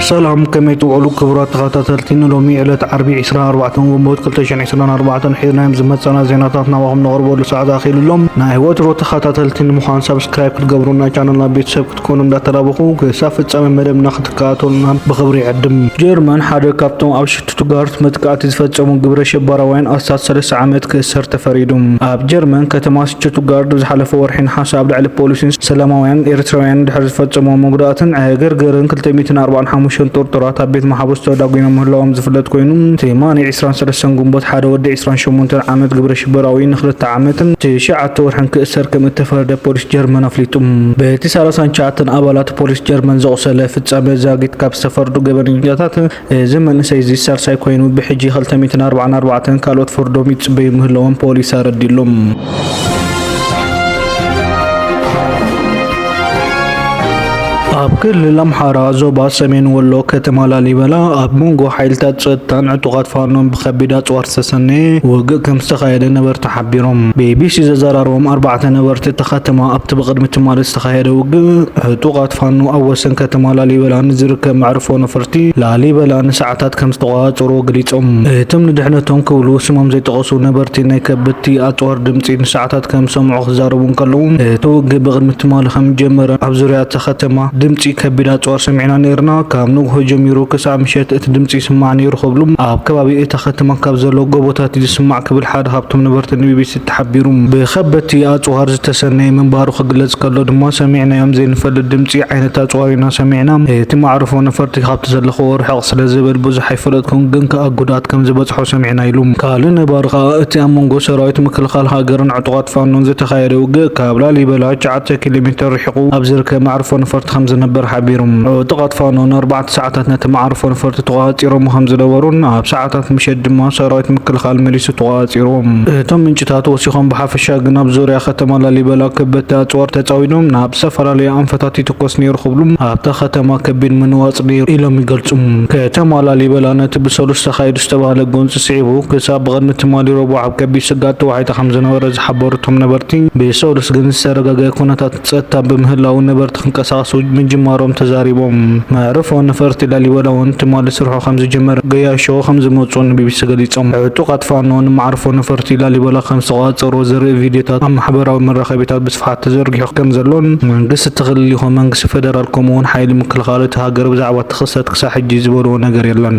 ሰላም ከመይ ትውዕሉ ክቡራት ተኸታተልቲ ንሎሚ ዕለት ዓርቢ 24 ግንቦት 2024 ሒዝናዮም ዝመፀና ዜናታት ናባኹም ነቕርበሉ ሰዓት ኣኺሉ ኣሎ ናይ ወትሮ ተኸታተልቲ ንምዃን ሰብስክራይብ ክትገብሩና ቻነልና ቤተሰብ ክትኮኑ እንዳተላበኹ ክሳብ ፍጻመ መደብና ክትከታተሉና ብኽብሪ ይዕድም። ጀርመን ሓደ ካብቶም ኣብ ሽቱትጋርት መጥቃዕቲ ዝፈጸሙ ግብረ ሸበራውያን ኣስታት ሰለስተ ዓመት ክእሰር ተፈሪዱ። ኣብ ጀርመን ከተማ ሽቱትጋርድ ዝሓለፈ ወርሒ ነሓሰ ኣብ ልዕሊ ፖሊስን ሰላማውያን ኤርትራውያንን ድሕሪ ዝፈጸምዎ መጉዳእትን ዕግርግርን ክልተ ሚእትን ኣርባዓን ሓሙሽተን ጥርጡራት ኣብ ቤት ማሓቡስ ተዳጒኖም ምህላዎም ዝፍለጥ ኮይኑ ትማሊ ዕስራን ሰለስተን ግንቦት ሓደ ወዲ ዕስራን ሸሞንተን ዓመት ግብረ ሽበራዊ ንኽልተ ዓመትን ትሽዓተ ወርሕን ክእሰር ከምእተፈረደ ጀርመን ኣፍሊጡ። በቲ ሳላሳን ትሽዓተን ኣባላት ፖሊስ ጀርመን ዘቑሰለ ፍጻመ ዛጊት ካብ ዝተፈርዱ ገበነኛታት እዚ መንእሰይ'ዚ ሳልሳይ ኮይኑ ብሕጂ ክልተ ሚእትን ኣርባዓን ኣርባዕተን ካልኦት ፍርዶም ይጽበዩ ምህላዎም ፖሊስ ኣረዲኡ'ሎ። ኣብ ክልል ኣምሓራ ዞባ ሰሜን ወሎ ከተማ ላሊበላ ኣብ መንጎ ሓይልታት ጸጥታን ዕጡቓት ፋኖን ብከቢድ ኣጽዋር ዝተሰነየ ውግእ ከም ዝተኻየደ ነበርቲ ሓቢሮም። ቢቢሲ ዘዘራረቦም ኣርባዕተ ነበርቲ እታ ከተማ ኣብቲ ብቕድሚ ትማሊ ዝተኻየደ ውግእ ዕጡቓት ፋኖ ኣብ ወሰን ከተማ ላሊበላ ንዝርከብ መዕርፎ ነፈርቲ ላሊበላ ንሰዓታት ከምዝተቖጻጸርዎ ገሊጾም። እቶም ንድሕነቶም ክብሉ ስሞም ዘይጠቐሱ ነበርቲ ናይ ከበድቲ ኣጽዋር ድምጺ ንሰዓታት ከምዝሰምዑ ክዛረቡ እንከለዉ እቲ ውግእ ብቕድሚ ትማሊ ከምዝጀመረ ኣብ ዙርያ እታ ከተማ ድምጺ ከቢድ ኣጽዋር ሰሚዕና ነይርና ካብ ንግሆ ጀሚሩ ክሳዕ ምሸት እቲ ድምጺ ይስማዕ ነይሩ ክብሉ ኣብ ከባቢ እታ ከተማ ካብ ዘለዉ ጎቦታት እዩ ዝስማዕ ክብል እታ ሃብቶም ነበርቲ ንቢቢሲ እተሓቢሩ። ብኸበድቲ ኣጽዋር ዝተሰነየ ምንባሩ ክግለጽ ከሎ ድማ ሰሚዕናዮም ዘይንፈልጥ ድምጺ ዓይነት ኣጽዋር ኢና ሰሚዕና። እቲ መዓርፎ ነፈርቲ ካብቲ ዘለኽዎ ርሕቕ ስለ ዝብል ብዙሕ ኣይፈለጥኩን፣ ግን ከኣ ጉድኣት ከም ዝበጽሖ ሰሚዕና ኢሉ። ካልእ ነባሪ ከኣ እቲ ኣብ መንጎ ሰራዊት ምክልኻል ሃገርን ዕጡቓት ፋኖን ዝተኻየደ ውግእ ካብ ላሊበላ ትሽዓተ ኪሎ ሜተር ርሒቑ ኣብ ዝርከብ መዕርፎ ነፈርቲ ከም ዝነበር ሓቢሩ። ዕጡቓት ፋኖ ንኣርባዕተ ሰዓታት ነቲ መዓርፎ ነፈርቲ ተቖጻጺሮሞ ከም ዝነበሩን ኣብ ሰዓታት ሰዓታት ምሸት ድማ ሰራዊት ምክልኻል መሊሱ ተቖጻጺርዎም። እቶም ምንጭታት ወሲኾም ብሓፈሻ ግን ኣብ ዙርያ ከተማ ላሊበላ ከበድቲ ኣጽዋር ተጻዊዶም ናብ ዝተፈላለዩ ኣንፈታት ይትኮስ ነይሩ ክብሉ ኣብታ ከተማ ከቢድ ምንዋጽ ነይሩ ኢሎም ይገልጹ። ከተማ ላሊበላ ነቲ ብሰሉስ ተኻይዱ ዝተባህለ ጎንጺ ስዒቡ ክሳብ ብቕድሚ ትማሊ ረቡዕ ኣብ ከቢድ ስግኣት ተዋሒጣ ከምዝነበረ ዝሓበሩ እቶም ነበርቲ ብሰሉስ ግን ዝተረጋገኣ ኩነታት ፀጥታ ብምህላዉ ነበርቲ ክንቀሳቐሱ ምጅማሮም ተዛሪቦም። መዕርፎ ነፈርቲ ላሊበላ እውን ትማሊ ስርሑ ከምዝጀመረ ገያሾ ከምዝመፅኡ ንቢቢሲ ገሊፆም። ዕጡቓት ፋኖ ንመዓርፎ ነፈርቲ ላሊበላ ከምዝተቖፃፀርዎ ዘርኢ ቪድዮታት ኣብ ማሕበራዊ መራኸቢታት ብስፍሓት ተዘርጊሑ ከምዘሎን መንግስቲ እቲ ክልል ይኹን መንግስቲ ፌደራል ከምኡ እውን ሓይሊ ምክልኻል እታ ሃገር ብዛዕባ እቲ ክስተት ክሳዕ ሕጂ ዝበልዎ ነገር የለን።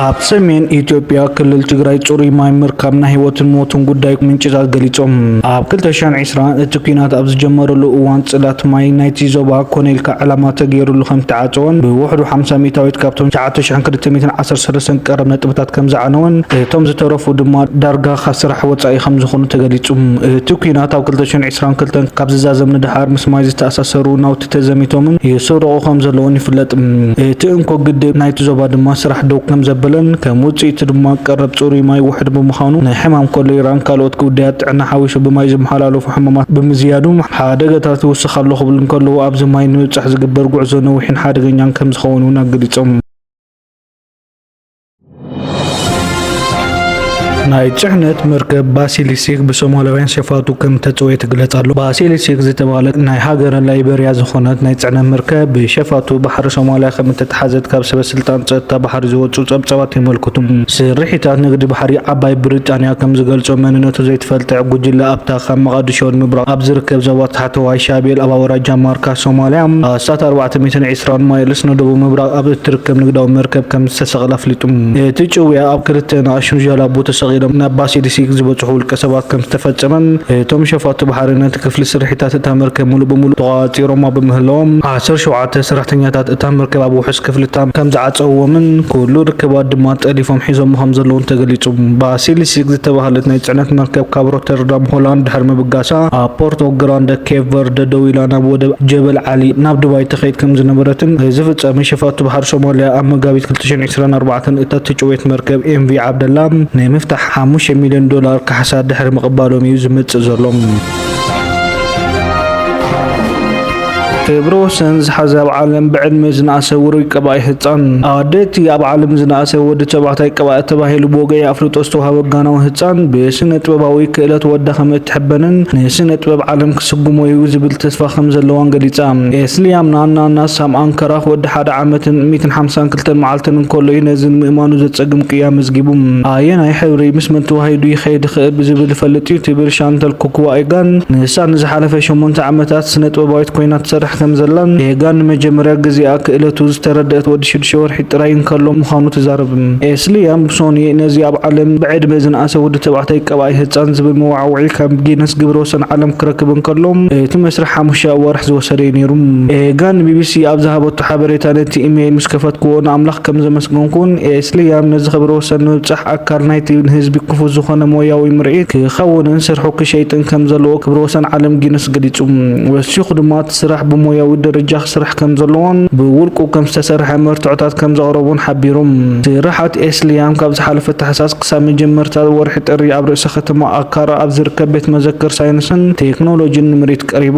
ኣብ ሰሜን ኢትዮጵያ ክልል ትግራይ ፅሩይ ማይ ምርካብ ናይ ህይወትን ሞትን ጉዳይ ምንጭታት ገሊፆም። ኣብ 2020 እቲ ኩናት ኣብ ዝጀመረሉ እዋን ፅላት ማይ ናይቲ ዞባ ኮነ ኢልካ ዕላማ ተገይሩሉ ከም ዝተዓፀወን ብውሕዱ 50 ሚእታዊት ካብቶም 9,213 ቀረብ ነጥብታት ከም ዝዓነወን እቶም ዝተረፉ ድማ ዳርጋ ካብ ስራሕ ወፃኢ ከም ዝኾኑ ተገሊፁ። እቲ ኩናት ኣብ 2022 ካብ ዝዛዘም ንደሓር ምስ ማይ ዝተኣሳሰሩ ናውቲ ተዘሚቶምን ይስረቑ ከምዘለዉን ይፍለጥ። እቲ እንኮ ግድብ ናይቲ ዞባ ድማ ስራሕ ደው ከምዘበለን ከም ውጽኢቱ ድማ ቀረብ ጽሩይ ማይ ውሑድ ብምዃኑ ንሕማም ኮሌራን ካልኦት ጉዳያት ጥዕና ሓዊሱ ብማይ ዝመሓላለፉ ሕማማት ብምዝያዱ ሓደጋታት ይውስኽ ኣሎ ክብሉ እንከለዉ ኣብዚ ማይ ንምብጻሕ ዝግበር ጉዕዞ ነዊሕን ሓደገኛን ከምዝኸውን'ውን ኣገሊጾም። ናይ ፅዕነት መርከብ ባሲሊሲክ ብሶማላውያን ሸፋቱ ከም ተፀወየ ትግለጽ ኣሎ። ባሲሊሲክ ዝተባህለት ናይ ሃገረ ላይበርያ ዝኾነት ናይ ፅዕነት መርከብ ብሸፋቱ ባሕሪ ሶማልያ ከም እተተሓዘት ካብ ሰበስልጣን ፀጥታ ባሕሪ ዝወፁ ጸብጻባት የመልክቱ። ስርሒታት ንግዲ ባሕሪ ዓባይ ብሪጣንያ ከም ዝገልጾ መንነቱ ዘይተፈልጠ ጉጅለ ኣብታ ካብ መቓድሾ ንምብራቕ ኣብ ዝርከብ ዞባ ታሕተዋይ ሻቤል ኣብ ኣውራጃ ማርካ ሶማልያ ኣስታት ኣርባዕተ ሚእትን ስትራንማይልስ ንደቡብ ምብራቕ ኣብ እትርከብ ንግዳዊ መርከብ ከም ዝተሰቕለ ኣፍሊጡ። እቲ ጭውያ ኣብ ክልተ ንኣሽቱ ጃላቡ ተሰቒሎም ናብ ባሲሊሲክ ዝበጽሑ ውልቀሰባት ከም ዝተፈጸመን እቶም ሸፋቱ ባሕሪ ነቲ ክፍሊ ስርሒታት እታ መርከብ ምሉእ ብምሉእ ተቖጻጺሮማ ብምህላዎም ዓሰርተ ሸውዓተ ሰራሕተኛታት እታ መርከብ ኣብ ውሑስ ክፍሊ እታ ከም ዝዓጸውዎምን ኩሉ ርክባት ድማ ጠሊፎም ሒዞሞ ከም ዘለዉን ተገሊጹ። ባሲሊሲክ ዝተባህለት ናይ ጽዕነት መርከብ ካብ ሮተርዳም ሆላንድ ድሕሪ ምብጋሳ ኣብ ፖርቶ ግራንደ ኬፕ ቨርደ ደው ኢላ ናብ ወደብ ጀበል ዓሊ ናብ ዱባይ ትኸይድ ከምዝነበረትን ዝፍጸመ ሸፋቱ ባሕሪ ሶማልያ ኣብ መጋቢት ክልተ ሽሕን ዕስራን ኣርባዕተን እታ እተጨወየት መርከብ ኤምቪ ዓብደላ ናይ ምፍታሕ ሓሙሽተ ሚልዮን ዶላር ካሕሳ ድሕሪ ምቕባሎም እዩ ዝመጽእ ዘሎ። ክብሪ ወሰን ዝሓዘ ኣብ ዓለም ብዕድመ ዝነኣሰ ውሩይ ቀባኢ ህፃን ኣደቲ ኣብ ዓለም ዝነኣሰ ወዲ ተባዕታይ ቀባኢ ተባሂሉ ብወገይ ኣፍልጦ ዝተዋሃበ ጋናዊ ህፃን ብስነ ጥበባዊ ክእለት ወዳ ከም እትሕበንን ንስነ ጥበብ ዓለም ስጉሞ'ዩ ዝብል ተስፋ ከም ዘለዋን ገሊጻ። ኤስልያምና ናና ሳም ኣንከራኽ ወዲ ሓደ ዓመትን ሚእትን ሓምሳን ክልተን መዓልትን እንከሎ'ዩ ነዚ ንምእማኑ ዘጸግም ቅያ ኣመዝጊቡ። ኣየናይ ሕብሪ ምስ መን ተዋሂዱ ይኸይድ ይኽእል ብዝብል እፈልጥ'ዩ ትብል ሻንተል ኩክዋኤጋን። ንሳ ንዝሓለፈ ሸሞንተ ዓመታት ስነጥበባዊት ኰይና ትሰርሕ ከም ዘላን ኤጋን ንመጀመርያ ግዜኣ ክእለቱ ዝተረድኣት ወዲ ሽዱሽተ ወርሒ ጥራይ እንከሎ ምዃኑ ትዛረብ። ኤስልያም ብሶኒ ነዚ ኣብ ዓለም ብዕድመ ዝነኣሰ ወዲ ተባዕታይ ቀባኢ ህጻን ዝብል መወዓውዒ ካብ ጊነስ ግብረ-ወሰን ዓለም ክረክብ እንከሎ እቲ መስርሕ ሓሙሽተ ኣዋርሕ ዝወሰደ'ዩ ነይሩ። ጋን ንቢቢሲ ኣብ ዝሃበቶ ሓበሬታ ነቲ ኢመይል ምስ ከፈትክዎ ንኣምላኽ ከም ዘመስገንኩን ስልያም ነዚ ክብረ ወሰን ንምብጻሕ ኣካል ናይቲ ንህዝቢ ክፉት ዝኾነ ሞያዊ ምርኢት ክኸውንን ስርሑ ክሸይጥን ከም ዘለዎ ክብረ ወሰን ዓለም ጊንስ ገሊጹ። ወሲኹ ድማ እቲ ስራሕ ብሞያዊ ደረጃ ክስራሕ ከም ዘለዎን ብውልቁ ከም ዝተሰርሐ መርትዖታት ከም ዘቕረቡን ሓቢሩ። ስራሓት ስልያም ካብ ዝሓለፈ ታሕሳስ፣ ክሳብ መጀመርታ ወርሒ ጥሪ ኣብ ርእሰ ከተማ ኣካራ ኣብ ዝርከብ ቤት መዘክር ሳይንስን ቴክኖሎጂን ንምርኢት ቀሪቡ።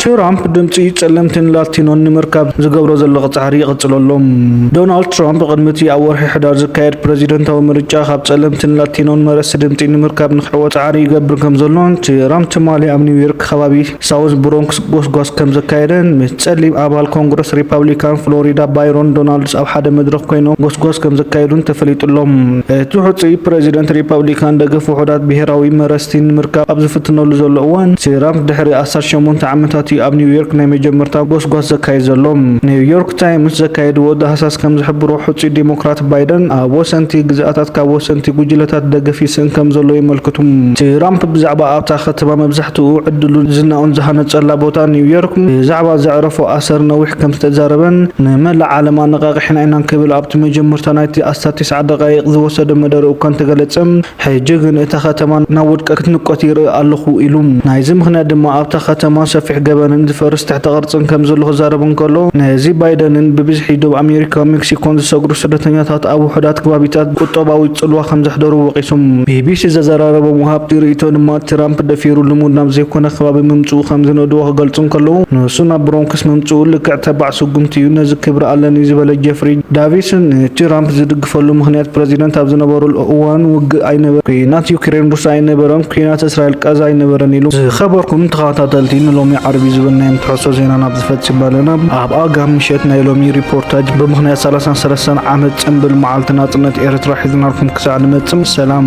ትራምፕ ድምፂ ፀለምትን ላቲኖን ንምርካብ ዝገብሮ ዘሎ ፃዕሪ ይቕፅሎ ኣሎ። ዶናልድ ትራምፕ ቅድሚ እቲ ኣብ ወርሒ ሕዳር ዝካየድ ፕረዚደንታዊ ምርጫ ካብ ፀለምትን ላቲኖን መረስቲ ድምፂ ንምርካብ ንክሕወ ፃዕሪ ይገብር ከም ዘሎ ትራምፕ ትማሊ ኣብ ኒውዮርክ ከባቢ ሳውዝ ብሮንክስ ጎስጓስ ከም ዘካየደን ምስ ጸሊም ኣባል ኮንግረስ ሪፓብሊካን ፍሎሪዳ ባይሮን ዶናልድስ ኣብ ሓደ መድረኽ ኮይኖም ጎስጓስ ከም ዘካየዱን ተፈሊጡ'ሎ። እቲ ሕጹይ ፕረዚደንት ሪፓብሊካን ደገፍ ውሑዳት ብሄራዊ መረጽቲ ንምርካብ ኣብ ዝፍትነሉ ዘሎ እዋን፣ ትራምፕ ድሕሪ ኣስታት ሸሞንተ ዓመታት'ዩ ኣብ ኒውዮርክ ናይ መጀመርታ ጎስጓስ ዘካይድ ዘሎ። ኒውዮርክ ታይምስ ዘካየድዎ ዳህሳስ ከም ዝሕብሮ ሕጹይ ዴሞክራት ባይደን ኣብ ወሰንቲ ግዝኣታት ካብ ወሰንቲ ጉጅለታት ደገፍ ይስእን ከም ዘሎ የመልክቱ። ትራምፕ ብዛዕባ ኣብታ ከተማ መብዛሕትኡ መብዛሕትኡ ዕድሉን ዝናኡን ዝሃነጸላ ቦታ ኒውዮርክ ብዛዕባ ዘዕረፎ ኣሰር ነዊሕ ከም ዝተዛረበን ንመላእ ዓለም ኣነቓቒሕና ኢና ክብል ኣብቲ መጀመርታ ናይቲ ኣስታት ትስዓ ደቓይቕ ዝወሰደ መደርኡ እኳ እንተገለጸ ሕጂ ግን እታ ከተማ ናብ ውድቀት ክትንቆት ይርኢ ኣለኹ ኢሉ። ናይዚ ምኽንያት ድማ ኣብታ ከተማ ሰፊሕ ገበንን ዝፈርስ ትሕተ ቅርጽን ከም ዘሎ ክዛረብ እንከሎ ነዚ ባይደንን ብብዝሒ ዶብ ኣሜሪካ ሜክሲኮን ዝሰግሩ ስደተኛታት ኣብ ውሑዳት ክባቢታት ቁጠባዊ ጽልዋ ከም ዘሕደሩ ወቒሱ። ቢቢሲ ዘዘራረቦም ወሃብቲ ርእይቶ ድማ ትራምፕ ደፊሩ ልሙድ ናብ ዘይኮነ ከባቢ ምምጽኡ ከም ዝንእድዎ ክገልጹ እንከለዉ፣ ንሱ ናብ ብሮንክስ ምምጽኡ ልክዕ ተባዕ ስጉምቲ እዩ፣ ነዚ ክብሪ ኣለኒ ዝበለ ጀፍሪ ዳቪስ፣ ንትራምፕ ዝድግፈሉ ምኽንያት ፕረዚደንት ኣብ ዝነበረሉ እዋን ውግእ ኣይነበረን፣ ኲናት ዩክሬን ሩስያ ኣይነበረን፣ ኲናት እስራኤል ቃዛ ኣይነበረን ኢሉ። ዝኸበርኩም ተኸታተልቲ ንሎሚ ዓርቢ ዝበልናዮም ትሕዝቶ ዜና ናብዚ ፈጺምና ኣለና። ኣብ ኣጋ ምሸት ናይ ሎሚ ሪፖርታጅ ብምኽንያት ሰላሳን ሰለስተን ዓመት ጽንብል መዓልቲ ናጽነት ኤርትራ ሒዝናልኩም ክሳዕ ንመጽም ሰላም።